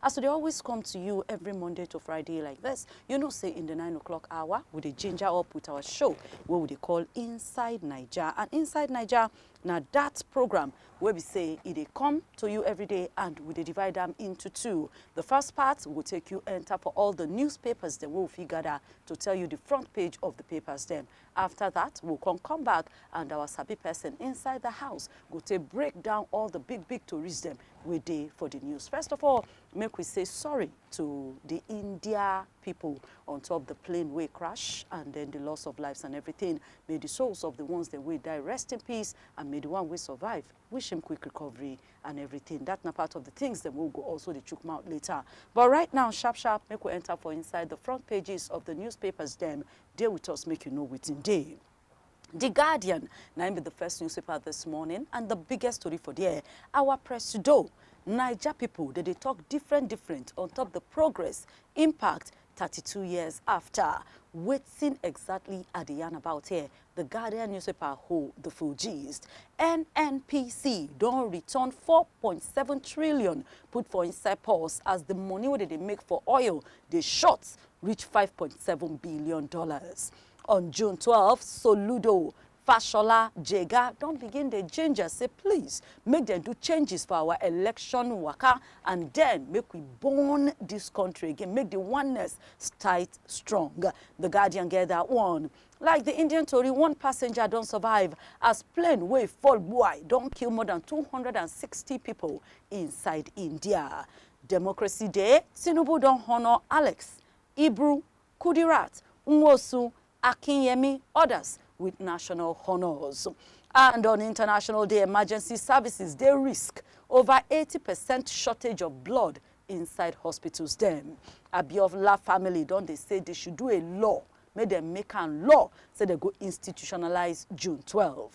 As we dey always come to you every Monday to Friday like this, you know say in the 9 o'clock hour, we dey ginger up with our show wey we dey call Inside Naija. And Inside Naija na that program wey be say e dey come to you every day and we dey divide am into two. The first part go take you enter for all the newspapers dem wey we fit gather to tell you the front page of the papers dem. After that, we will come come back and our sabi person inside the house go take break down all the big big tourists them we dey for the news. First of all, make we say sorry to the India people on top the plane way crash and then the loss of lives and everything. May the souls of the ones that we die rest in peace and may the one we survive wish him quick recovery and everything that na part of the things dem wey we go also dey chook mouth later but right now sharp sharp make we enter for inside the front pages of the newspapers dem dey with us make you know wetin dey. The Guardian na im be the first newspaper this morning and the biggest story for there our presido Naija people dey dey talk different different on top the progress impact 32 years after wetin exactly I dey yarn about here The Guardian newspaper hold the full gist. NNPC don return 4.7 trillion put for inside purse as the money wey dem dey make for oil dey short reach 5.7 billion dollars. On June 12, Soludo Fashola Jega don begin dey ginger say please make dem do changes for our election waka and then make we burn this country again, make the oneness tight strong. The Guardian get that one. Like di Indian tori, one passenger don survive as plane wey fall gbuai don kill more dan two hundred and sixty pipo inside India. Democracy Day, Tinubu don honour Alex, Ibru, Kudirat, Nwosu, Akinyemi, odas wit national honours. And on International Day, emergency services dey risk over eighty percent shortage of blood inside hospitals dem. Abiovla family don dey say dey should do a law make dem make am law say dem go institutionalize June twelve.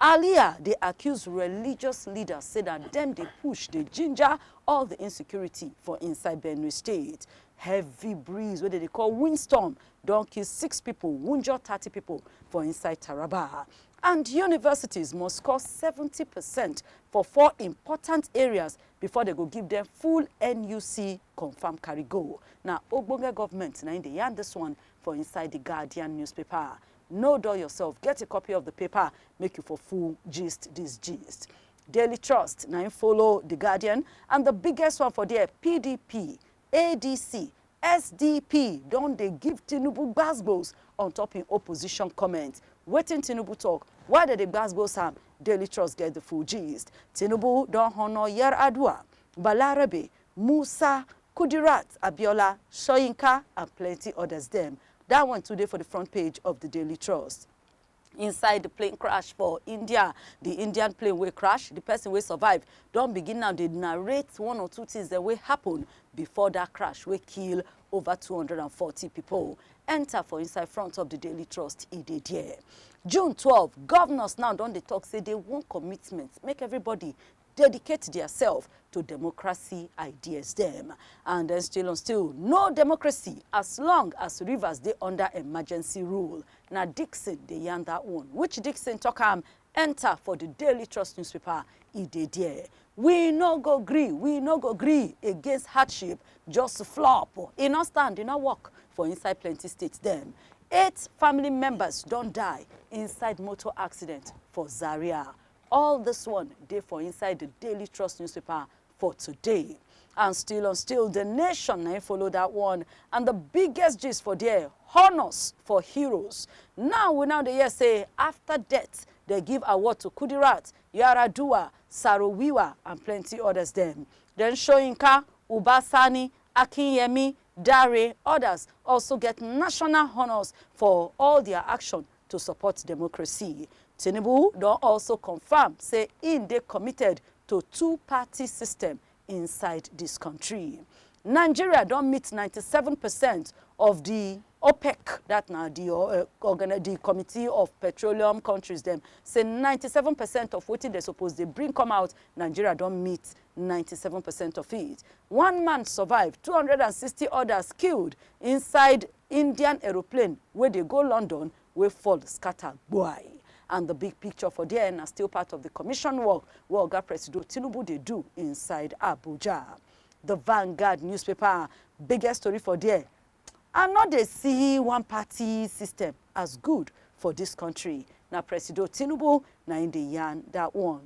Alia dey accuse religious leaders say na dem dey push dey ginger all di insecurity for inside Benue State. Heavy breeze wey dem dey call windstorm don kill six pipo, wunjure thirty pipo for inside Taraba. And universities must score seventy percent for four important areas before dem go give dem full NUC confam carry go. Na ogbonge government na im dey yarn this one for inside the Guardian newspaper. No dull yourself, get a copy of the paper make you for full gist this gist. Daily Trust na im follow the Guardian and the biggest one for there, PDP ADC, SDP don dey give Tinubu gbas-gbos on top im opposition comments. Wetin Tinubu talk? Why dem dey gbas-gbos am? Daily Trust get the full gist. Tinubu don honour Yar'Adua, Balarabe, Musa, Kudirat, Abiola, Soyinka and plenty others dem. That one too dey for the front page of the Daily Trust. inside di plane crash for India. Di Indian plane wey crash, di person wey survive don begin now dey narrate one or two things dem wey happen before dat crash wey kill over 240 pipo. Enter for inside front of di Daily Trust, e dey there. June twelve, governors now don dey talk say dey want commitment make everybody dedicate diasef to democracy ideas dem and den still on still no democracy as long as Rivers dey under emergency rule na Dixon dey yarn dat one which Dixon tok am enta for di Daily Trust newspaper e dey there. We no go gree, we no go gree against hardship just flop, e no stand, e no work for inside plenty states dem. Eight family members don die inside motor accident for Zaria. All this one dey for inside the Daily Trust newspaper for today. And still on still, the nation na im follow that one. And the biggest gist for there, honours for heroes. Now we now dey hear say after death, they give award to Kudirat, Yaradua, Sarowiwa and plenty others dem. Then Soyinka, Uba Sani, Akinyemi, Dare, others also get national honours for all their action to support democracy. Tinubu don also confam say im dey committed to two-party system inside dis kontri. Nigeria don meet ninety seven percent of di OPEC, dat na di uh, di Committee of Petroleum Countries dem, say ninety seven percent of wetin dem suppose dey bring come out, Nigeria don meet ninety seven percent of it. One man survive, two hundred and sixty odas killed inside Indian aeroplane wey dey go London wey fall scatter gboai. And the big picture for there na still part of the commission work wey Oga Presido Tinubu dey do inside Abuja. The Vanguard newspaper biggest story for there, I no dey see one party system as good for this country, na Presido Tinubu na im dey yarn that one.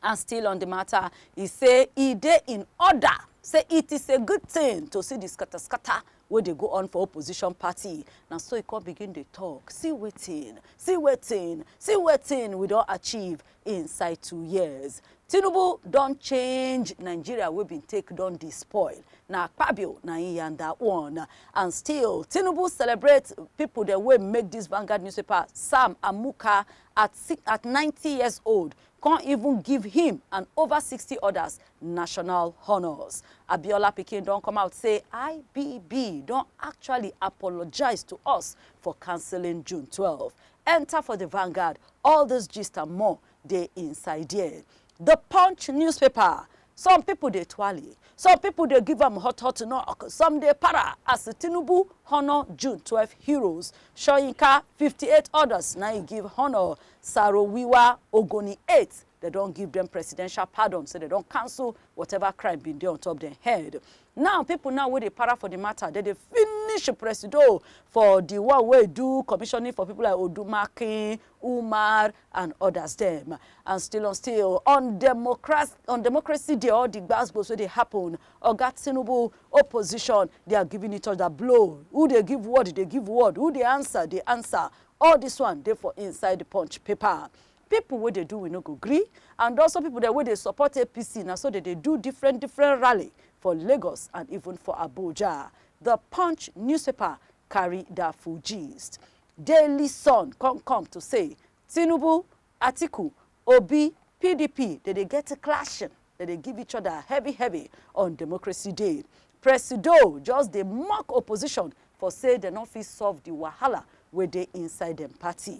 And still on the matter, e say e dey in order say it is a good thing to see the scatter scatter wey dey go on for opposition party. Na so e come begin dey talk, see wetin, see wetin, see wetin we don achieve inside two years. Tinubu don change Nigeria wey bin take don dey spoil, na Akpabio na im yarn that one. And still, Tinubu celebrate people dem wey make this Vanguard newspaper, Sam Amuka at at ninety years old come even give him and over sixty others national honours. Abiola pikin don come out say IBB don actually apologise to us for cancelling June twelve. Enter for the Vanguard, all this gist and more dey inside there. The Punch newspaper Some people dey tuale, some people dey give am hot hot knock, some dey para as Tinubu honour June twelve heroes, Soyinka fifty eight others na im give honour, Sarowiwa, Ogoni eight dem don give dem presidential pardon say dem don cancel whatever crime bin dey on top dem head. Now people now wey dey para for the matter dem dey finish Presido for the one wey do commissioning for people like Odumakin, Umar, and others dem. And still on still on democracy, on democracy dey all the gbasgbos wey dey happen. Oga Tinubu opposition they are giving each other blow. Who dey give word dey give word. Who dey answer dey answer. All this one dey for inside the punch paper. People wey dey do we no go gree and also people dem wey dey support APC na so they dey do different different rally for Lagos and even for Abuja. The punch newspaper carry that full gist. Daily Sun come come to say Tinubu, Atiku, Obi, pdp dey dey get clashing, dey dey give each other heavy heavy on Democracy Day. Presido just dey mock opposition for say dem no fit solve the wahala wey dey inside dem party.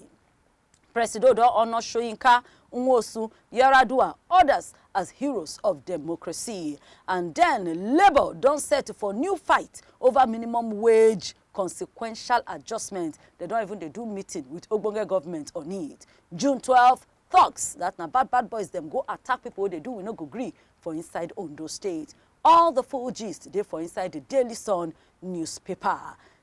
Presido don honour Soyinka, Nwosu, Yar'Adua, others as heroes of democracy. And then Labour don set for new fight over minimum wage consequential adjustment dem don even dey do meeting with ogbonge government on it june twelve thugs that na bad bad boys dem go attack people wey dey do we no go gree for inside ondo state all the full gist dey for inside the daily sun newspaper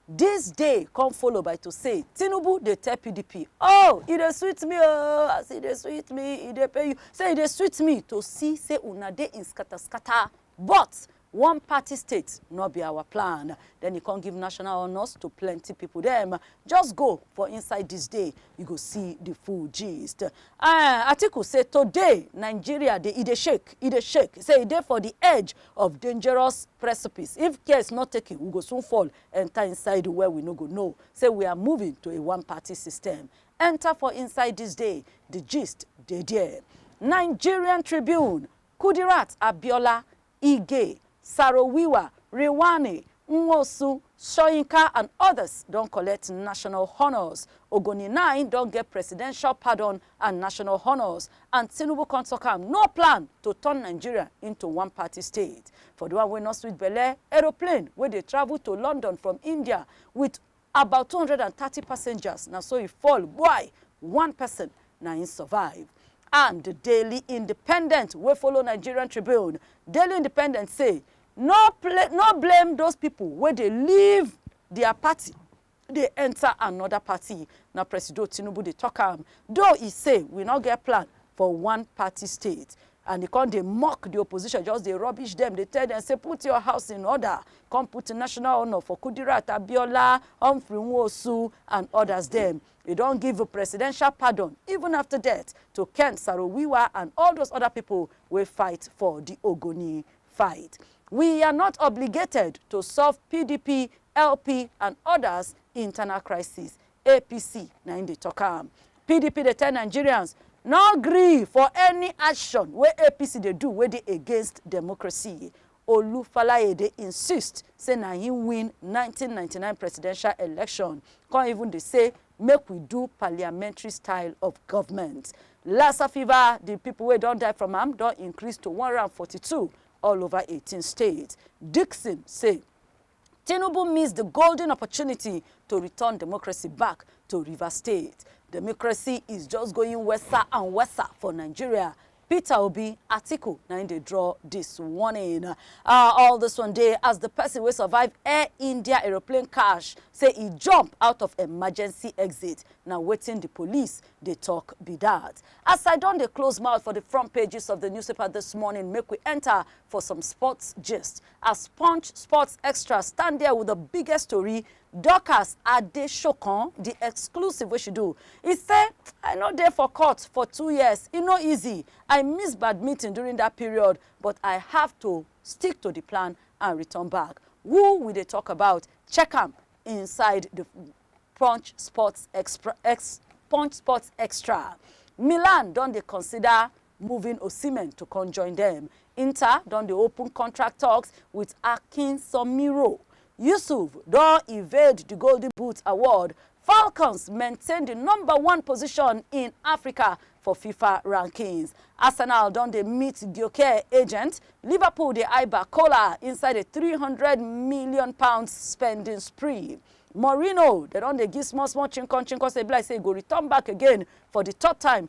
this day come follow by to say tinubu dey tell pdp oh e dey sweet me oh as e dey sweet me e dey pay you say e dey sweet me to see say una dey in scatter scatter But one party state nor be our plan. Den e kon give national honours to plenty pipo dem. Just go for inside dis day, you go see di full gist. Ahh, Atiku say today Nigeria dey e dey shake, e dey shake, say e dey for di edge of dangerous precipice, if care is not taken we go soon fall enter inside where we no go know say we are moving to a one party system. Enter for inside dis day, di gist dey there. Nigerian Tribune Kudirat Abiola, Ige, Sarowiwa, Rewani, Nwosu, Soyinka and others don collect national honours, Ogoni nai don get presidential pardon and national honours and Tinubu come talk am no plan to turn Nigeria into one party state. For the one wey no sweet belle, aeroplane wey dey travel to London from India with. About two hundred and thirty passengers na so e fall gbai, one person na im survive. And Daily Independent wey follow Nigerian Tribune, Daily Independent say no pla no blame those people wey dey leave dia party dey enter another party, na Presido Tinubu dey talk am, though e say we no get plan for one party state. and e come dey mock di opposition, just dey rubbish dem, dey tell dem say put your house in order, come put national honour for Kudirat Abiola, Humphrey Nwosu and others dem. E don give presidential pardon even after death to Ken Saro-Wiwa and all those other pipo wey fight for di Ogoni fight. We are not obligated to solve PDP, LP and others internal crisis, APC na im dey talk am. PDP dey tell Nigerians no gree for any action wey APC dey do wey dey against democracy. Olu Falaye dey insist say na him win nineteen ninety nine presidential election, come even dey say make we do parliamentary style of government. Lassa fever, di people wey don die from am don increase to one hundred and forty two all over eighteen states. Dickson say. Tinubu miss the golden opportunity to return democracy back to Rivers State. Democracy is just going worser and worser for Nigeria. Peter Obi, Atiku, na im dey draw this warning. Uh, all this one day as the person wey survive Air India aeroplane crash say e jump out of emergency exit. Na wetin the police dey talk be that. As I don dey close mouth for the front pages of the newspaper this morning, make we enter for some sports gist. As Punch Sports Extra stand there with the biggest tori, Dorcas Adesokan, the exclusive wey she do, e say, I no dey for court for two years, e no easy, I miss badminton during that period but I have to stick to the plan and return back. Who we dey talk about? Check am inside the Punch Sports Exp Punch Sports Extra. Milan don dey consider moving Osimhen to come join dem. Inter don dey open contract talks with Akin Somiro. Yusuf don evade di Golden Boot award. Falcons maintain di number one position in Africa for Fifa rankings. Arsenal don dey meet Gyökeres agent, Liverpool dey eye Barcola inside a three hundred million pounds spending spree. Mourinho, dem don dey give small small chinkon chinkon say e be like say e go return back again for di third time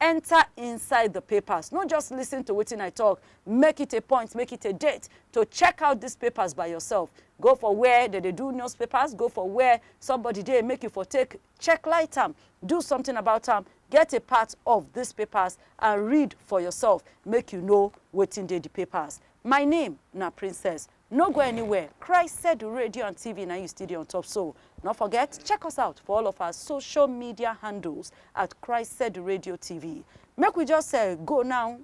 Enter inside the papers, no just listen to wetin I talk, make it a point, make it a date to check out these papers by yourself. Go for where they dey do newspapers, go for where somebody dey make you for take check light am, do something about am, get a part of these papers and read for yourself make you know wetin dey the papers. My name na Princess No go anywhere, Christ Edu Radio and TV na im you still dey on top so. No forget check us out for all of our social media handles at Christ Edu Radio TV. Make we just eh, go now,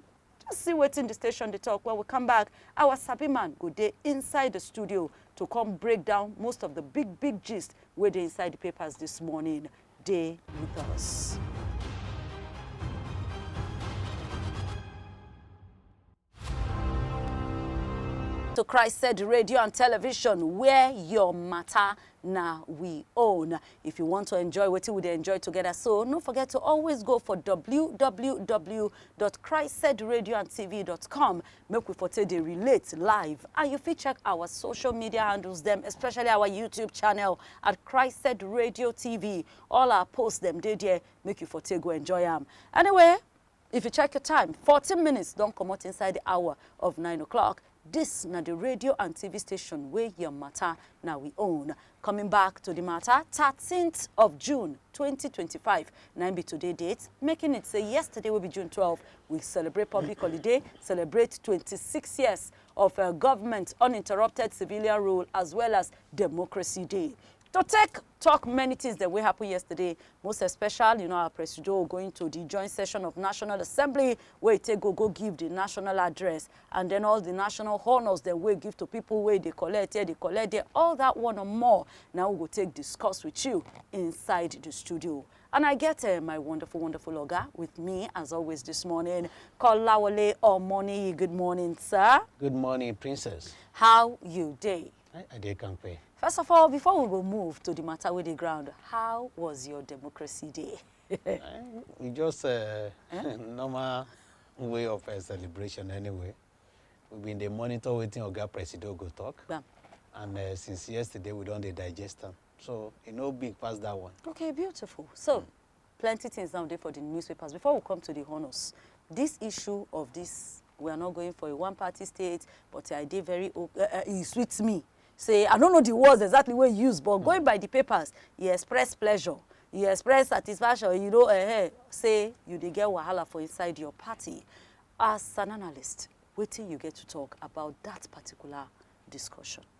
just see wetin the station dey talk. When we come back, our sabi man go dey inside the studio to come break down most of the big big gist wey dey inside the papers this morning. Dey with us. to Christ said radio and television where your matter na we own. If you want to enjoy what we dey enjoy together, so no forget to always go for www.christsaidradioandtv.com. Make we for take dey relate live and you fit check our social media handles them, especially our YouTube channel at Christ Said Radio TV. All our posts them dey there. Make you for take go enjoy am. Anyway, If you check your time, 14 minutes don comot inside the hour of 9 o'clock. This na the radio and TV station wey your matter na we own. Coming back to the matter, 13th of June 2025 na im be today date, making it say yesterday wey be June 12, we celebrate public holiday, celebrate 26 years of uh, government uninterrupted civilian rule as well as democracy day. To take talk many things dem wey happen yesterday, most especially you know our presido going to the joint session of National Assembly wey e take go go give the national address and then all the national honours dem wey e give to people wey e dey collect here, dey collect there, all that one and more na we go take discuss with you inside the studio. And I get uh, my wonderful, wonderful oga with me as always this morning, Kolawole Omoniyi. Good morning, sir. Good morning, Princess. How you dey? I, I dey kampe. First of all, before we go move to the matter with the ground, how was your democracy day? Eh, we just uh, normal way of uh, celebration anyway. We been dey monitor wetin Oga Presido go talk. Bam. And uh, since yesterday, we don dey digest am. So e no big pass that one. Okay, beautiful. So, plenty things now dey for the newspapers before we come to the honours this issue of this we are not going for a one party state but i dey very uh, uh, e sweet me say i no know the words exactly wey you use but mm. going by the papers e express pleasure e express satisfaction you know eh, say you dey get wahala for inside your party as an analyst wetin you get to talk about that particular discussion.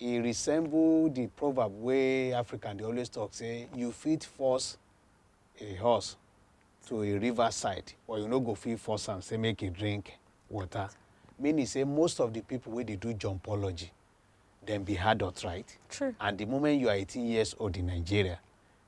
e resemble the proverb wey African dey always talk say you fit force a horse to a river side but you no go fit force am say make e drink water. Meaning say most of the people wey dey do jumpology dem be adult right? True. And the moment you are 18 years old in Nigeria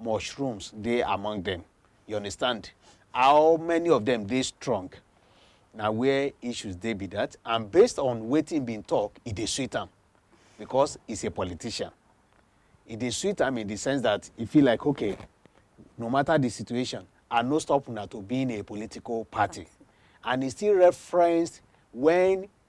mushrooms dey among them. You understand? How many of them dey strong? Na where issues dey be that. And based on wetin been talk, e dey sweet am because he's a politician. E dey sweet am in the sense that e feel like, okay, no matter the situation, I no stop una to being a political party. And he still referenced when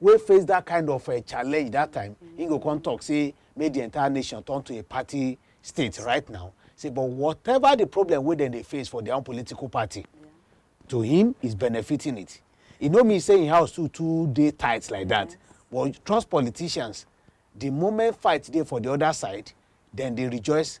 wey face dat kind of um challenge dat time, im go come talk say make di entire nation turn to a party state right now, say but whatever di problem wey dem dey face for dia own political party, to him he is benefiting it. E no mean say im house too too dey tight like dat, but trust politicians, di moment fight dey for di oda side, dem dey rejoice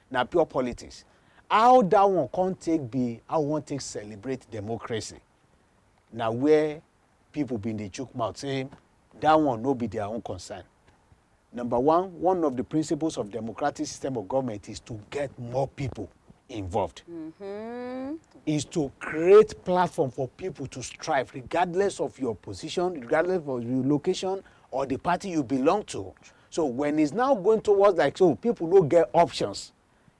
na pure politics. How that one come take be how we wan take celebrate democracy? Na where people bin dey chook mouth say that one no be their own concern. Number one, one of the principles of democratic system of government is to get more people involved. Mm -hmm. Is to create platform for people to strive regardless of your position, regardless of your location or the party you belong to. So when it's now going towards like so, people no get options.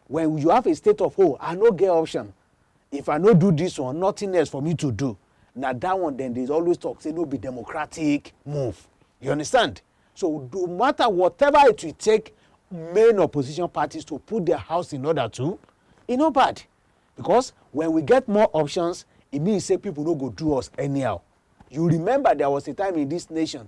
When you have a state of oh, I no get option. If I no do this one, nothing else for me to do. Now that one, then they always talk say no be democratic move. You understand? So no matter whatever it will take, main opposition parties to put their house in order to, e no bad because when we get more options e mean say people no go do us anyhow you remember there was a time in this nation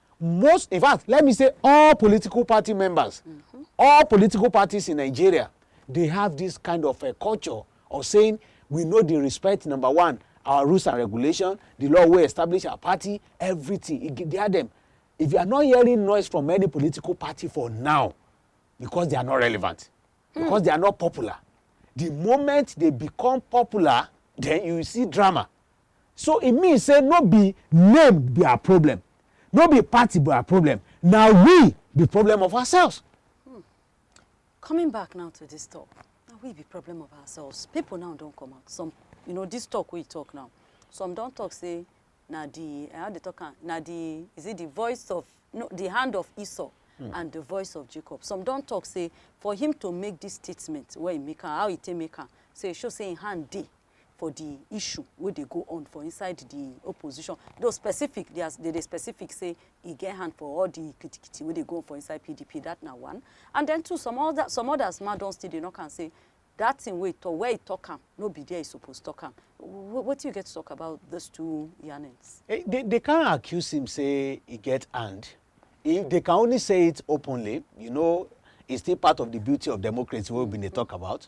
most in fact let me say all political party members mm -hmm. all political parties in nigeria they have this kind of a culture of saying we know the respect number one our rules and regulation the law wey establish our party everything e dey them if you are not hearing noise from any political party for now because they are not relevant hmm. because they are not popular the moment they become popular then you see drama So e mean say no be name be our problem, no be party be our problem, na we be problem of ourselves. Hmm. Coming back now to this talk, na we be problem of ourselves. People now don come out. Some, you know, this talk we talk now, some don talk say na the, how they talk am, na the, is it the voice of, no, the hand of Esau mm. and the voice of Jacob. Some don talk say for him to make this statement wey he make am, how he take make am, say show say him hand dey for di issue wey dey go on for inside di opposition, though specific dia dey dey specific say e get hand for all di kitikiti wey dey go on for inside pdp, dat na one. And den two, some oda some odas mah don still dey knock am say dat tin wey e tok, where e tok am no be dia e suppose tok am. Wetin you get to tok about dis two yarnings? Dey dey dey can't accuse him say e get hand, e dey can only say it openly, you know, e still part of di beauty of democracy wey we bin dey tok about,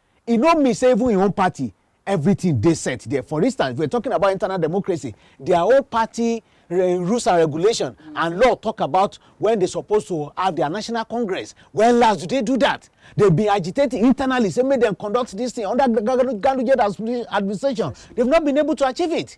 e no mean say even im own party everything dey set there for instance if we're talking about internal democracy their own party eh, rules and regulation and law talk about when they supposed to have their national congress when last do they do that they been agitating internally say make them conduct this thing under ganduje administration they've not been able to achieve it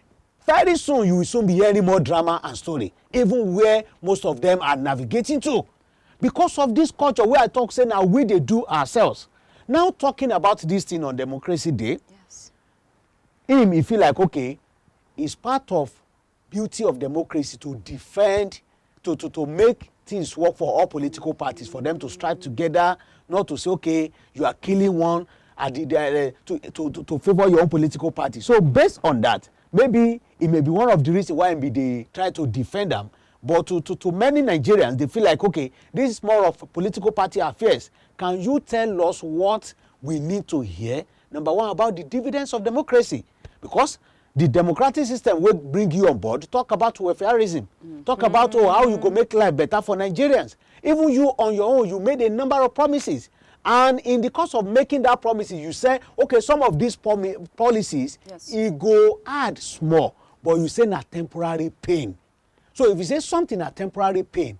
Very soon you will soon be hearing more drama and story even where most of them are navigating to because of this culture wey I talk say na we dey do ourselves. Now talking about this thing on democracy day, yes. him he feel like okay, it's part of beauty of democracy to defend to to to make things work for all political parties for them to strive together not to say okay you are killing one at the, the uh, to, to to to favour your own political party so based on that maybe it may be one of the reasons why be dey try to defend am but to to to many nigerians they feel like okay this is more of political party affairs can you tell us what we need to hear number one about the dividends of democracy because the democratic system wey bring you on board talk about welfareism mm. talk mm. about oh how you go make life better for nigerians even you on your own you made a number of promises and in the course of making that promises you say okay some of these policies yes. e go add small but you say na temporary pain so if you say something na temporary pain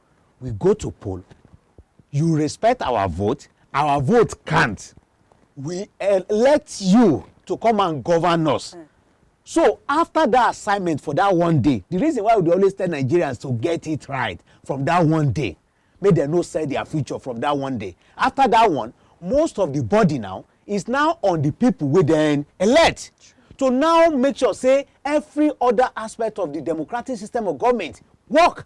we go to poll, you respect our vote, our vote count, we elect you to come and govern us. Mm. So after that assignment for that one day, the reason why we dey always tell Nigerians to get it right from that one day, make dem no sell their future from that one day. After that one, most of the body now is now on the people wey dem elect to now make sure say every other aspect of the democratic system of government work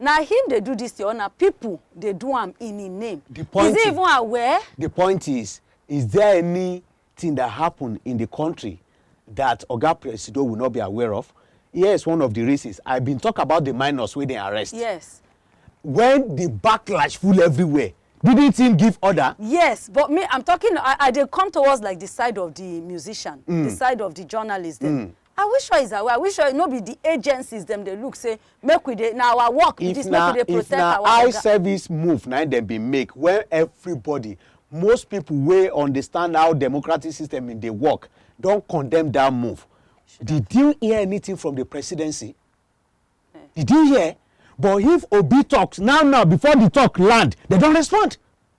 Na him dey do this thing or na people dey do am in him name? The point is he even aware? The point is, is there anything that happen in the country that Oga Presido will not be aware of? Here is one of the reasons. I been talk about the minors wey dem arrest. Yes. When the backlash full everywhere, didn't him give order? Yes, but me I'm talking, I, I dey come towards like the side of the musician, mm. the side of the journalist dem. Mm. Are we sure is away? Are we sure no be the agencies dem dey look say make we dey na our work be this make we dey protect our oga. If na eye service move na im dem bin make when everybody most people wey understand how democratic system bin dey work don condemn that move. Did you hear anything from the presidency? Eh. Did you hear? But if Obi talks now now before the talk land, they don respond.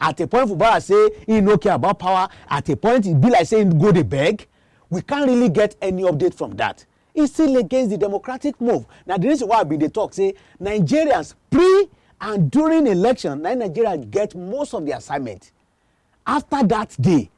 At a point Fubara say im no care about power, at a point e be like say im go dey beg. We can't really get any update from dat. E still against di democratic move. Na di reason why I bin dey tok say Nigerians pre and during election na im Nigerians get most of di assignment. Afta dat day,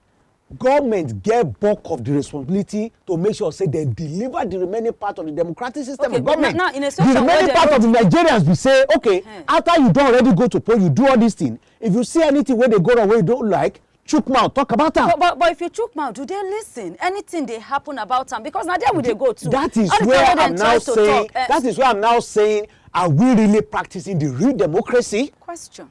Government get bulk of di responsibility to make sure say dem deliver di remaining part of di democratic system of government. Now, in a situation di remaining part of di Nigerians be say, okay, hmm. after you don already go to poll, you do all dis thing, if you see anything wey dey go wrong wey you don't like, chook mouth talk about am. But, but but if you chook mouth do they listen anything dey happen about am because na there we dey go to. that is where i'm now saying talk, uh, that is where i'm now saying are we really practicing the real democracy. question.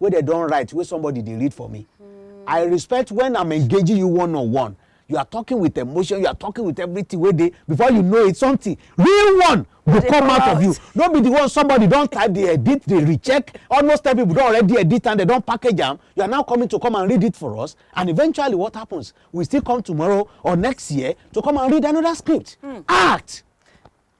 wey dem don write wey somebody dey read for me mm. i respect when i'm engaging you one on one you are talking with emotion you are talking with everything wey dey before you know it something real one go come out, out of you no be the one somebody don type dey edit dey recheck almost ten people don already edit and they don package am you are now coming to come and read it for us and eventually what happens we still come tomorrow or next year to come and read another script mm. act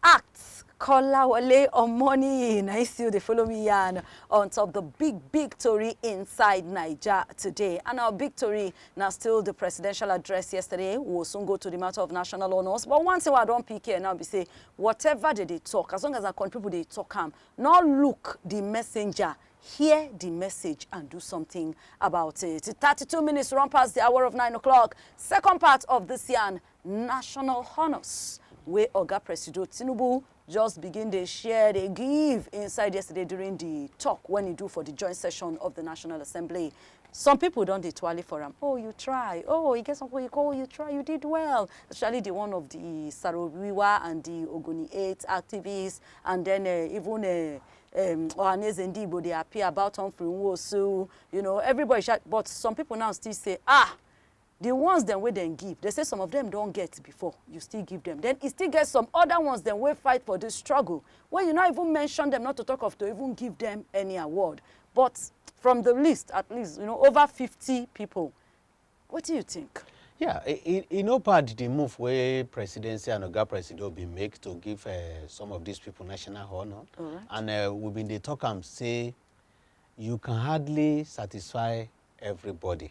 Act Kolawole Omoniyi na im still dey follow me yarn on top the big big tori inside Naija today and our big tori na still the presidential address yesterday, we will soon go to the matter of national honours but one thing wey I don pick here now be say whatever dem dey talk as long as na country people dey talk am no look the messenger hear the message and do something about it. Thirty two minutes run pass the hour of nine o'clock second part of this yarn national honours wey Oga Presido Tinubu just begin dey share dey give inside yesterday during di tok wen e do for di joint session of di National Assembly. Some pipo don dey tuale for am, oh you try, oh e get some pipo you call, you try, you did well, especially di one of di Sarowiwa and di Ogoni 8 activists and den um even um Ohaneze Ndi Igbo dey appear about Humphrey Nwosu, you know everybody sha, but some pipo now still say ah Di ones dem wey dem give, dem say some of dem don get before, you still give dem. Den e still get some oda ones dem wey fight for dis struggle wey you no even mention dem, not to tok of to even give dem any award. But from di list, at least you know over fifty pipo, wetin you tink? Yeah, e e e no bad di move wey Presidency and Oga Presido bin make to give um some of dis pipo national honour, Alright. and um we bin dey tok am say you can hardly satisfy everybody.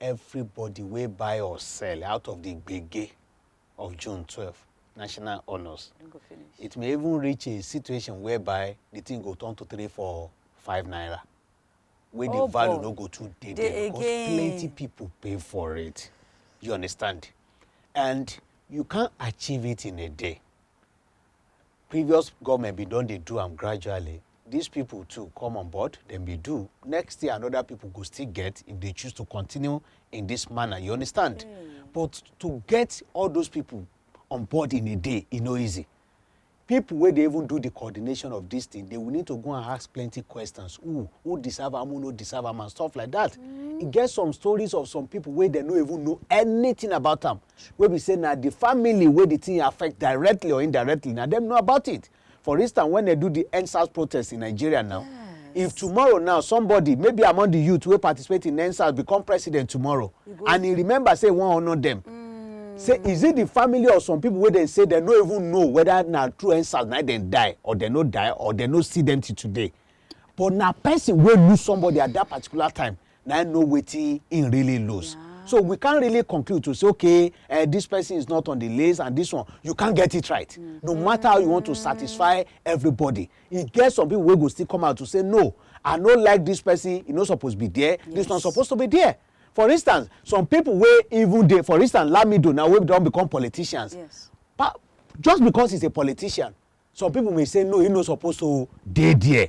everybody wey buy or sell out of the gbege of June 12 national honours. It may even reach a situation whereby the thing go turn to three, four, five naira. Where oh, the value boy. no go too dey there because again. plenty people pay for it. You understand? And you can't achieve it in a day. previous government bin don dey do am gradually these people too come on board dem be do next year another people go still get if they choose to continue in this manner you understand mm. but to get all those people on board in a day e no easy people wey dey even do the coordination of this thing they will need to go and ask plenty questions who who deserve am who no deserve am and stuff like that mm. e get some stories of some people wey dem no even know anything about am wey be say na di family wey di tin affect directly or indirectly na dem know about it for instance wen dem do di endsars protest in nigeria now if tomorrow now somebody maybe among di youth wey participate in endsars become president tomorrow and e remember say e wan honour dem say is it the family of some people wey dem say dem no even know whether na true endsars na dem die or dem no die or dem no see dem till today but na person wey lose somebody at that particular time na im know wetin im really lose. Yeah. So we can't really conclude to say, okay, uh, this person is not on the list and this one. You can't get it right. Mm -hmm. No matter how you want to satisfy everybody. You get some people who will still come out to say, no, I no like this person, e no suppose be there, yes. this one supposed to be there for instance some people wey even dey for instance lamido now wey don become politicians yes. pa just because he's a politician some people may say no he no suppose to dey there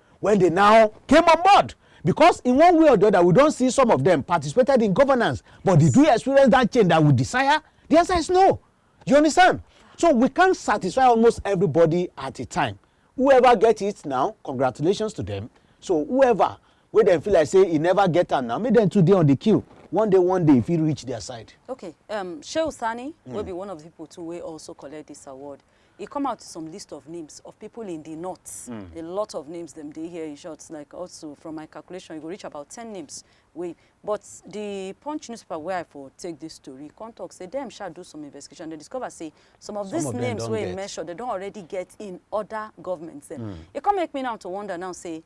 When they now came on board, because in one way or the other, we don't see some of them participated in governance, but did we experience that change that we desire? The answer is no. You understand? So we can't satisfy almost everybody at a time. Whoever get it now, congratulations to them. So whoever wey dem feel like say e never get am now make dem too dey on the queue one day one day e fit reach their side. okay um, shehu sani mm. wey be one of the people too wey also collect this award e come out some list of names of people in the north mm. a lot of names them dey here in short like also from my calculation you go reach about ten names wey but the punch newspaper where i for take this story come talk say them shall do some investigation They discover say some of some these of names wey e mention they don't already get in other governments dem mm. e come make me now to wonder now say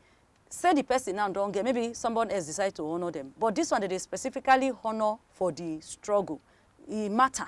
say the person now don't get maybe someone else decide to honour them but this one they specifically honour for the struggle e matter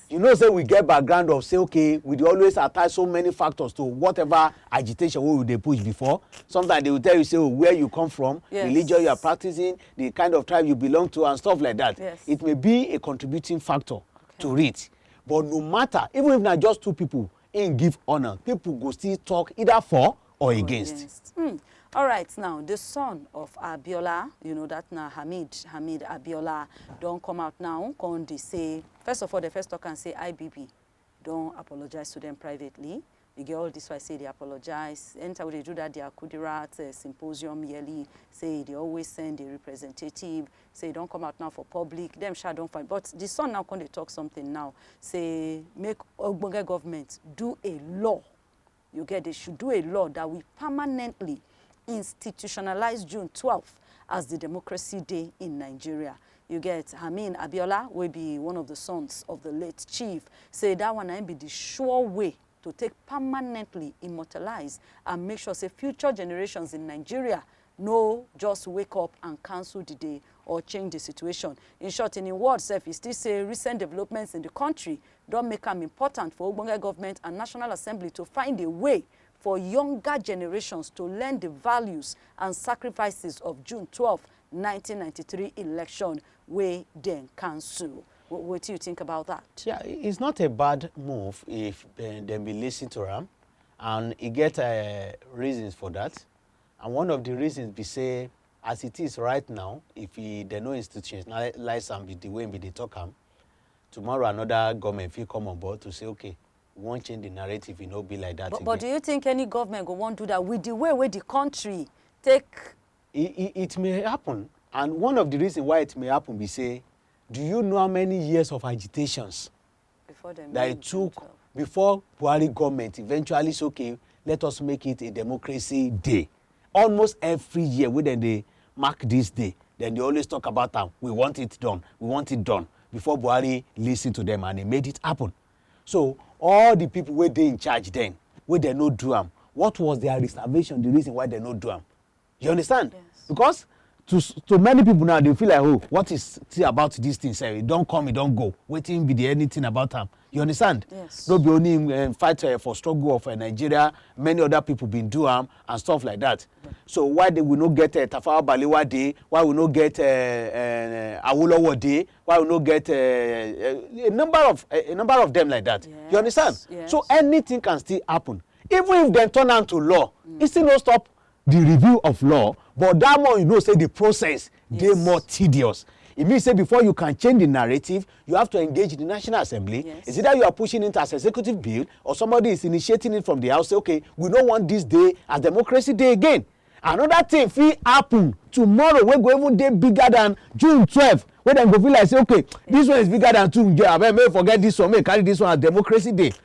You know say we get background of say okay we dey always attach so many factors to whatever agitation wey we dey push before. Sometimes they will tell you say oh where you come from, yes. religion you are practicing, the kind of tribe you belong to and stuff like that. Yes. It may be a contributing factor okay. to it. But no matter, even if not just two people, Im give honor, people go still talk either for or against. Hmm. All right, now the son of Abiola, you know that now Hamid Hamid Abiola don come out now, come dey say first of all the first talk and say IBB don apologize to them privately. You get all this why say they apologize. Anytime they do that, their Kudirat uh, symposium yearly say they always send a representative. say e don come out now for public dem sha don find but the son now come dey talk something now say make ogbonge government do a law you get they should do a law that will permanently institutionalize june 12 as the democracy day in nigeria you get Amin Abiola wey be one of the sons of the late chief say that one na im be the sure way to take permanently immortalize and make sure say future generations in Nigeria no just wake up and cancel di day or change di situation. In short, in im words sef, e still say recent developments in di kontri don make am important for ogbonge govment and National Assembly to find a way for younger generations to learn di values and sacrifices of June twelve, nineteen ninety three election wey dem cancel. Wh- Wetin you think about that? Yeah, i- it's not a bad move if uh, dem be listen to am, and e get uh, reasons for that. and one of di reasons be say as it is right now if e dem no institutionalize am with di way we dey talk am tomorrow another government fit come on board to say okay we wan change di narrative e no be like dat again. but do you think any government go wan do dat with di way wey di country take. it may happen and one of di reasons why it may happen be say do you know how many years of agitations Before the that it took of... before Buhari government eventually say okay let us make it a democracy day almost every year wey dem dey mark this day dem dey always talk about am we want it done we want it done before Buhari lis ten to them and he made it happen so all the people wey dey in charge then wey dem no do am what was their reservation the reason why dem no do am You understand? Yes. Because to to many people now they feel like oh what is tea about this thing sef e don come e don go wetin be the anything about am you understand yes. no be only him um, fight uh, for struggle of uh, nigeria many other people bin do am and stuff like that yeah. so why they, we no get uh, tafawa balewa dey why we no get uh, uh, awolowo dey why we no get uh, uh, a number of uh, a number of them like that yes. you understand yes. so anything can still happen even if dem turn am to law mm. e still no stop di review of law but dat more you know say di process dey Yes. more tedious e mean say before you can change di narrative you have to engage di national assembly Yes. is either you are pushing it as executive bill or somebody is initiating it from di house say okay we no want dis day as democracy dey again another thing fit happen tomorrow wey go even dey bigger than june twelve wey dem go feel like say okay dis one is bigger than two abeg make we forget dis one make we carry dis one as democracy day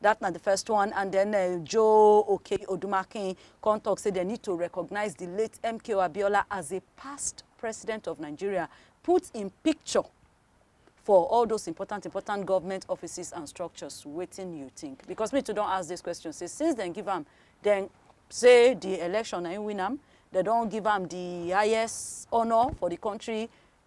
Dat na di first one and den Joe Okei-Odumakin kon tok say dem need to recognize di late MKO Abiola as a past President of Nigeria, put im picture for all those important important government offices and structures, wetin you tink? Because me too don ask dis question say since dem give am, dem say di election na im win am, dem don give am di highest honour for di kontri,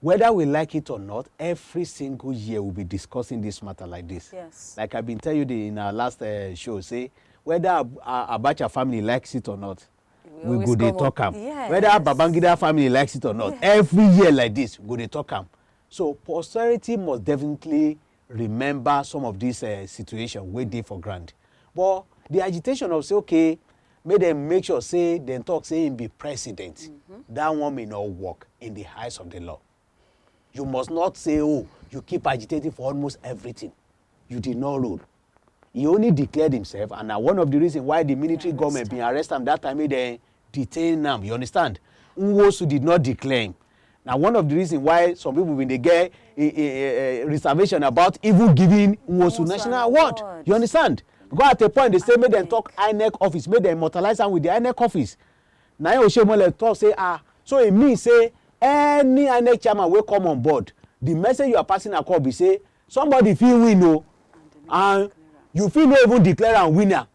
Whether we like it or not, every single year we be discussing this matter like this. Yes. Like I been tell you the, in our last uh, show, say whether Ab uh, Abacha family likes it or not, we, we go dey talk am. Yes. Whether Babangida family likes it or not, yes. every year like this, we go dey talk am. So posterity must definitely remember some of dis eh, situation wey dey for ground but di agitation of say okay make dem make sure say dem talk say im be president mm-hmm. dat one may not work in di eyes of di law you must not say oh you keep agitating for almost everything you did not rule he only declared himself and na one of di reason why di military goment bin arrest am dat time make dem detain am, you understand. Nwosu did not declaim. Na one of the reason why some people bin dey get a, a, a, a reservation about even giving Nwosu national award. award. You understand? Because at a point they say make dem talk INEC office, make dem immortalize am with the INEC office. Na him Oshemole talk say ah, so e mean say any INEC chairman wey come on board, the message you are passing across be say somebody fit win o, oh, and you fit no even declare am winner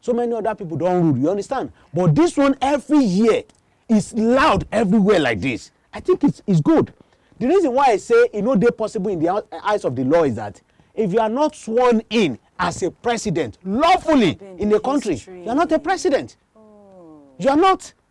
so many other people don rule you understand but this one every year is loud everywhere like this i think it's, it's good the reason why i say e no dey possible in the eyes of the law is that if you are not sworn in as a president lawfully in a country you are not a president oh. you are not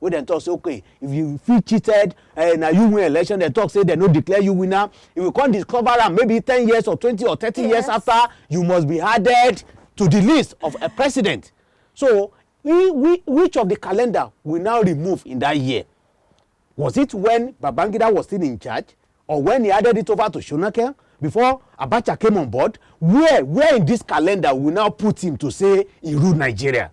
wey dem talk say okay if you fit cheated uh, na you win election dem talk say dem no declare you winner if you come discover am maybe ten years or twenty or thirty yes. years after you must be added to the list of a president so we, we, which of the calendar we now remove in that year was it when babangida was still in charge or when he added it over to shonakel before abacha came on board where where in this calendar we now put him to say he ruled nigeria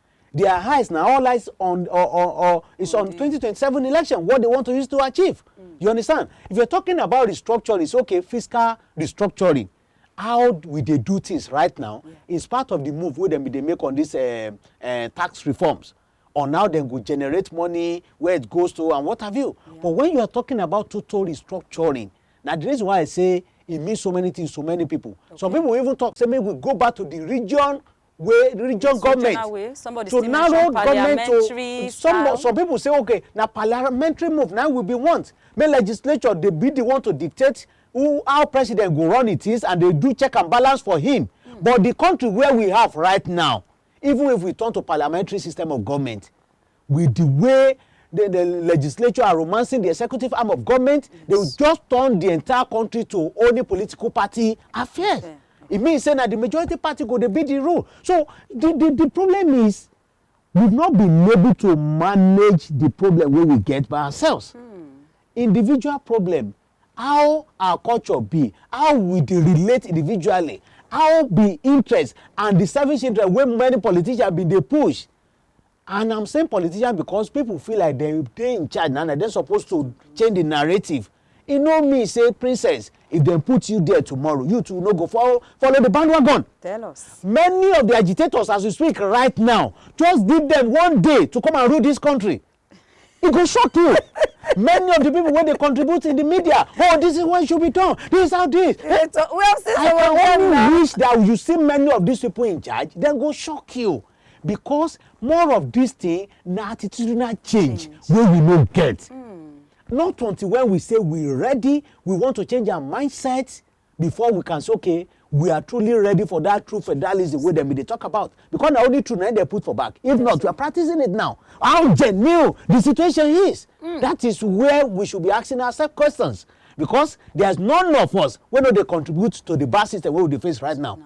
their eyes na all eyes on or or, or it's on 2027 election what they want to use to achieve mm. you understand if you're talking about restructuring it's okay fiscal restructuring how we dey do things right now yeah. in spite of the move wey dem bin dey make on these uh, uh, tax reforms on how dem go generate money where it goes to and what have you yeah. but when you are talking about total restructuring na the reason why i say e mean so many things to many people okay. some people even talk say make we go back to the region way region government to narrow government to some some people say okay na parliamentary move na we be want make legislature dey be the one to dictate who how president go run it is and dey do check and balance for him mm. but the country where we have right now even if we turn to parliamentary system of government With di way di di legislature are romancing di executive arm of goment, dey will just turn di entire kontri to only political party affairs. E mean say na di majority party go dey be di rule. So di di di problem is we've not been able to manage di problem wey we get by ourselves. Individual problem, how our culture be, how we dey relate individually, how di interest and di selfish interest wey many politicians bin dey push And I'm saying politician because people feel like dem dey in charge na, na dem suppose to change the narrative. E no mean say princess, if dem put you there tomorrow, you too no go follow follow the bandwagon. Tell us. Many of the agitators as we speak right now, just give them one day to come and rule this country. e go shock you many of the people wey dey contribute in the media oh this is what should be done this is how this eh, so, we have seen i can only wish that you see many of these people in charge dem go shock you because more of this thing na attitudinal change, change. wey we no get mm. not until when we say we ready we want to change our mindset before we can say okay we are truly ready for that true federalism wey dem bin dey talk about because na only true na im dem put for back if not we are practicing it now how genuine the situation is mm. that is where we should be asking ourselves questions because there is none of us wey no dey contribute to the bad system wey we dey face right now. No.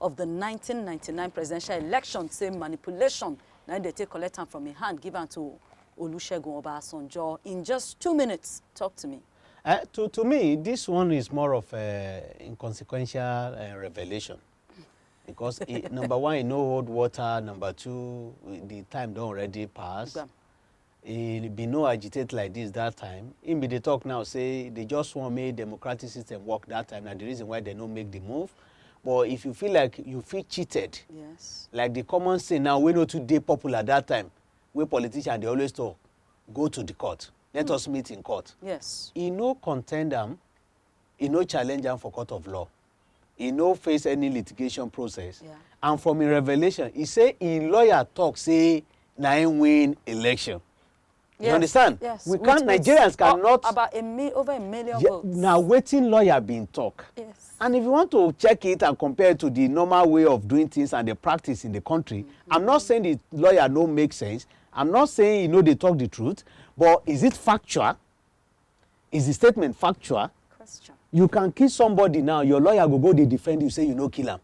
of di nineteen ninety nine presidential election say manipulation na im dem take collect am from im hand give am to Olusegun Obasanjo in just two minutes. Talk to me. Uh, to, to me, this one is more of an inconsequential uh, revelation. Because it, number one, you know hold water. Number two, the time don't already pass. He bin no agitate like dis dat time, im bin dey tok now say dey just wan make democratic system work dat time na di reason why dem no make di move. But if you feel like you feel cheated, yes. like di common saying now wey no too dey popular dat time wey politicians dey always tok, go to di court, let mm. us meet in court. Yes. E no contend am, e no challenge am for court of law. e no face any litigation process yeah. and from im revelation e say im lawyer talk say na im win election yes. you understand yes. we can't nigerians cannot about a mi over a million yeah, votes na wetin lawyer bin talk yes. and if you want to check it and compare it to the normal way of doing things and the practice in the country mm -hmm. i'm not saying the lawyer no make sense i'm not saying he no dey talk the truth but is it factual Is the statement factual? Question. You can kill somebody now, your lawyer go go dey defend you, say you no kill am.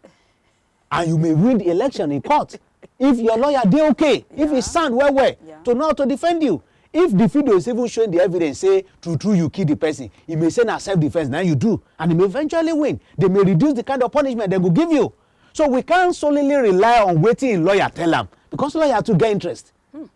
And you may win the election in court. If your lawyer dey okay, yeah. if he stand well well yeah. to know to defend you. If the video is even showing the evidence say true true you kill the person, he may say na self defense na you do and he may eventually win. They may reduce the kind of punishment they go give you. So we can't solely rely on waiting lawyer tell am because lawyer too get interest. Hmm.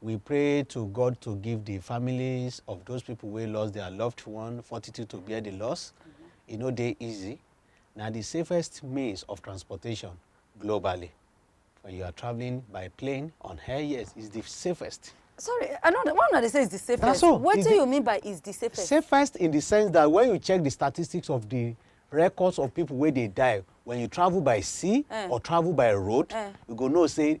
We pray to God to give the families of those people wey lost their loved one fortitude to bear the loss. E no dey easy. Na the safest means of transportation globally. When you are traveling by plane on air, yes, it's the safest. sorry i no why una dey say it's the safest Na so, it's wetin the- you mean by is the safest Safest in the sense that when you check the statistics of the records of people wey dey die when you travel by sea Eh. or travel by road, Eh. you go know say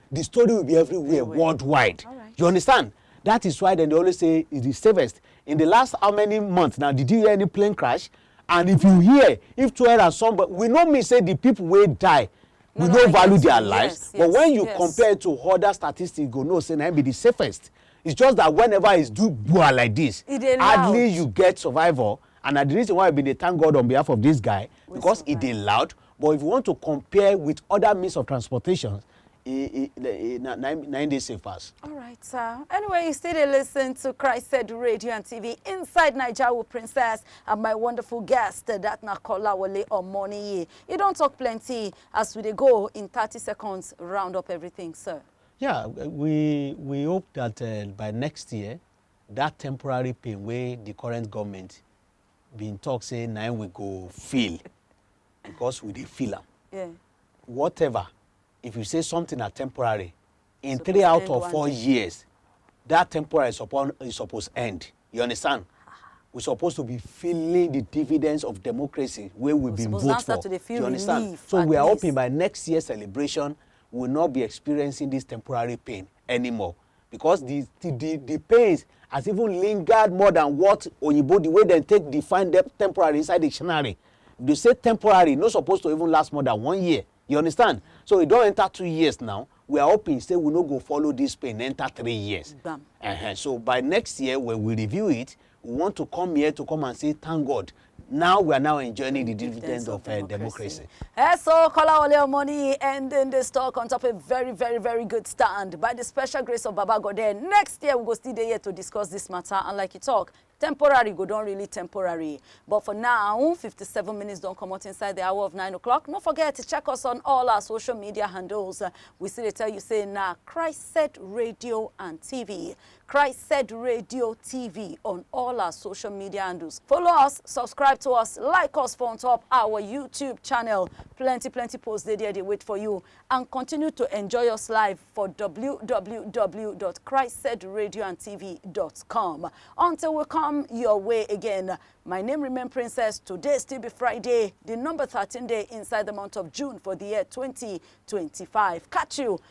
the story will be everywhere worldwide right. you understand that is why dem dey always say e the safest in the last how many months now did you hear any plane crash and if you hear if two and somebody we no mean say the people wey die we no, no value their yes, lives yes, but when you yes. compare to other statistics you go know say na be the safest it's just that whenever it's do gbua like this hardly you get survival and na the reason why i bin dey thank god on behalf of this guy because e dey loud But if you want to compare with other means of transportation, e, e, e, na, na, na im dey safe pass. All right, sir. Anyway, you still dey listen to Christ Said Radio and TV inside Naija with Princess and my wonderful guest, that na Kolawole Omoniyi. You don talk plenty as we dey go in 30 seconds, round up everything, sir. Yeah, we we hope that uh, by next year, that temporary pain wey the current government been talk say na we go feel because we dey feel am yeah. whatever if you say something na temporary in so three out of four years that temporary is supposed is supposed end you understand we supposed to be feeling the dividends of democracy wey we been vote for you understand so we are hoping by next year celebration we will not be experiencing this temporary pain anymore because the the the, the pains has even lingered more than what oyibo the way dem take define them temporary inside dictionary they say temporary no suppose to even last more than one year you understand so e don enter two years now we are hoping say we no go follow this pain enter three years Bam. uh-huh. so by next year when we review it We want to come here to come and say thank God now we are now enjoying the dividends of uh, democracy. Uh, so Kolawole Omoni ending this talk on top of a very, very, very good stand. By the special grace of Baba God, next year we go still there to discuss this matter. And like you talk, temporary go don really temporary but for now 57 minutes don comot inside the hour of 9 o'clock no forget to check us on all our social media handles we still dey tell you say na christ radio and tv Christ said radio TV on all our social media handles. Follow us, subscribe to us, like us for on top our YouTube channel. Plenty, plenty posts dey there, they wait for you. And continue to enjoy us live for www.christsaidradioandtv.com. Until we come your way again, my name remain Princess. Today still be Friday, the number 13 day inside the month of June for the year 2025. Catch you